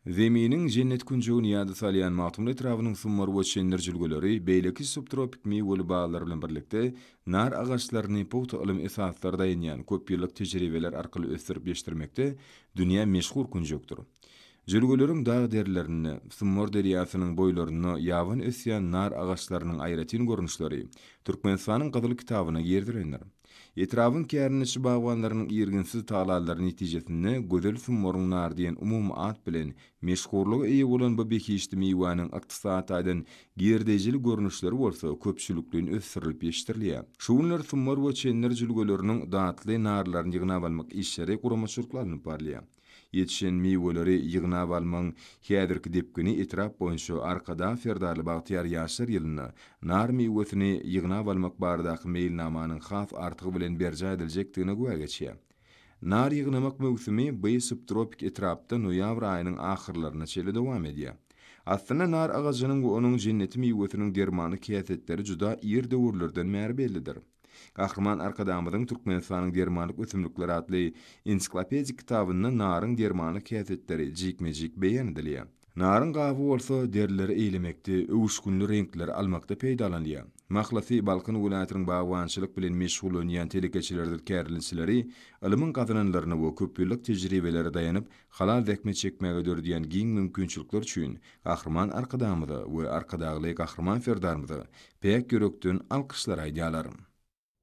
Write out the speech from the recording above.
Zeminiň jennet künjegini ýada salýan Magtymguly etrabynyň summar we çendir jülgeleri beýleki subtropik miweli baglar bilen birlikde, nar agaçlaryny pugta ylym esaslary daýanýan köpýyllyk tejribeler arkaly ösdürip ýetişdirmekde dünýä meşhur künjekdir. Jülgeleriň dag derlerinde, Summar derýasynyň boýlarynda ýabany ösýän nar agaçlarynyň aýratyn görnüşleri Türkmenistanyň Gyzyl kitabyna girizilendir. Etrabyň kärendeçi bagbanlarynyň irginsiz tagallalary netijesinde Gözel Summaryň nary diýen umumy at bilen meşhurlyga eýe bolan bu behişdi miwäniň ykdysady taýdan girdeýjili görnüşleri bolsa köpçülikleýin ösdürilip ýetişdirilýär. Şu günler Summar we Çenner jülgeleriniň datly narlaryny ýygnap almak işleri guramaçylykly alnyp barylýar. Ýetişen miweleri ýygnap almagyň häzirki depgini etrap boýunça Arkadag Serdarly bagtyýar ýaşlar ýylynda nar miwesini ýygnap almak baradaky meýilnamanyň has artygy bilen berjaý ediljekdigine güwä geçýär. Nar ýygnamak möwsümi by subtropik etrapda noýabr aýynyň ahyrlaryna çenli dowam edýär. Aslynda nar agajynyň we onuň jenneti miwesiniň dermanlyk häsiýetleri juda ir döwürlerden bäri bellidir. Gahryman Arkadagymyzyň Türkmenistanyň dermanlyk ösümlikleri atly ensiklopedik kitabynda naryň dermanlyk häsiýetleri jikme-jik beýan edilýär. Naryň gaby bolsa derileri eýlemekde, öwüşginli reňkleri almakda peýdalanylýar. Mahlasy, Balkan welaýatynyň bagbançylyk bilen meşgullanýan telekeçileridir kärilinçileri ylmyň gazananlaryna we köpýyllyk tejribelere daýanyp, Halal zähmet çekmäge döredýän giň mümkinçilikler üçin Gahryman Arkadagymyza we Arkadagly Gahryman Serdarymyza päk ýürekden alkyşlar aýdýarlar.